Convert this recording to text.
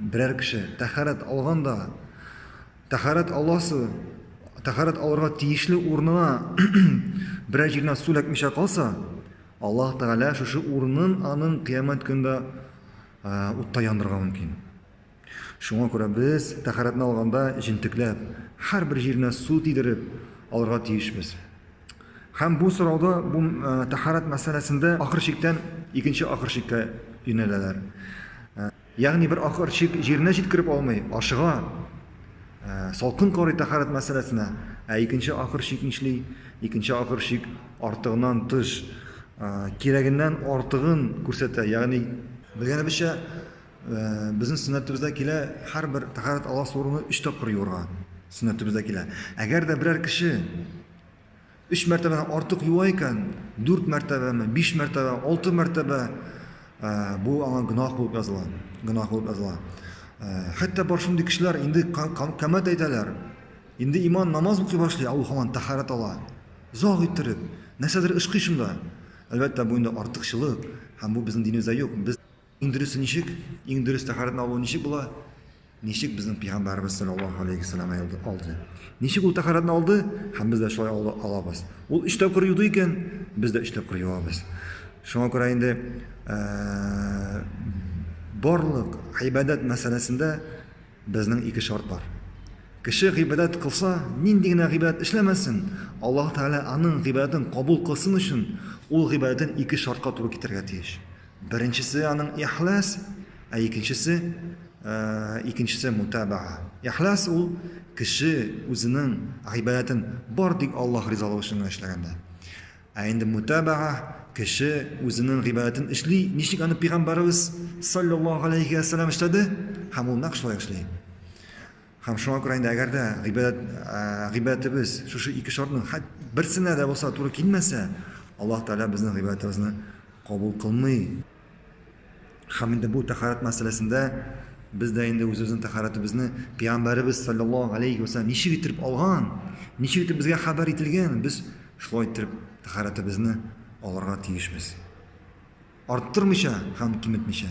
Берәр кеше тәһарәт алганда, тәһарәт аласы, тәһарәт алырга тиешле урынына берәр җиренә су эләкмичә калса, Аллаһ Тәгалә шушы урынын аның кыямәт көндә утта яндырырга мөмкин. Шуңа күрә без тәһарәтне алганда җентекләп, һәрбер җиренә су тидереп алырга тиешбез. Һәм бу сорауда, бу тәһарәт мәсьәләсендә ахыр чиктән икенче ахыр чиккә юнәләләр. Ягъни бер ахыр чик җиренә җиткереп алмый, ашыга, салкын карый тәһарәт мәсьәләсенә, ә икенче ахыр чик нишли? Икенче ахыр чик артыгынан тыш, кирәгеннән артыгын күрсәтә. Ягъни, белгәнебезчә, Безнең сөннәтебездә килә, һәрбер тәһарәт аласы урыны өч тапкыр юырга. Сөннәтебездә килә. Әгәр дә берәр кеше өч мәртәбәдән артык юа икән, дүрт мәртәбәме, биш мәртәбә, алты мәртәбә бу аңа гөнаһ булып языла. Гөнаһ булып языла. Хәтта бар шундый кешеләр инде камәт әйтәләр. Инде иман намаз укый башлый, ә ул һаман тәһарәт ала. Заг иттереп, нәрсәдер ышкый шунда. Әлбәттә, бу инде артыкчылык, һәм бу безнең динебездә юк. Без Иң дөресе ничек? Иң дөрес тәһарәтне алу ничек була? Ничек безнең пәйгамбәрбез саллаллаһу алейхи вәсәлләм алды? алды? Ничек ул тәһарәтне алды? Һәм без дә шулай ала- алабыз. Ул өч тапкыр юды икән, без дә өч тапкыр юабыз. Шуңа күрә инде ә, барлык гыйбадәт мәсьәләсендә безнең ике шарт бар. Кеше гыйбадәт кылса, нинди генә гыйбадәт эшләмәсен, Аллаһ Тәгалә аның гыйбадәтен кабул кылсын өчен, ул гыйбадәтен ике шартка туры китерергә тиеш. Беренчесе аның ихлас, ә икенчесе э, икенчесе мутабаа. Ихлас ул кеше үзенең гыйбадәтен бар тик Аллаһ ризалыгы өчен генә эшләгәндә. Ә инде мутабаа кеше үзенең гыйбадәтен эшли, ничек аны пәйгамбәребез саллаллаһу алейхи ва саллям эшләде, һәм ул нәкъ шулай эшли. Һәм шуңа күрә инде әгәр дә гыйбадәт, гыйбадәтебез шушы ике шартның хәт берсенә дә булса туры килмәсә, Аллаһ Тәгалә безнең гыйбадәтебезне кабул кылмый. Һәм инде бу тәхарәт мәсьәләсендә без дә инде үзебезнең тәхарәтебезне пәйгамбәребез саллаллаһу алейхи вәсәлләм ничек итеп алган, ничек итеп безгә хәбәр ителгән, без шулай итеп тәхарәтебезне алырга тиешбез. Арттырмыйча һәм киметмичә.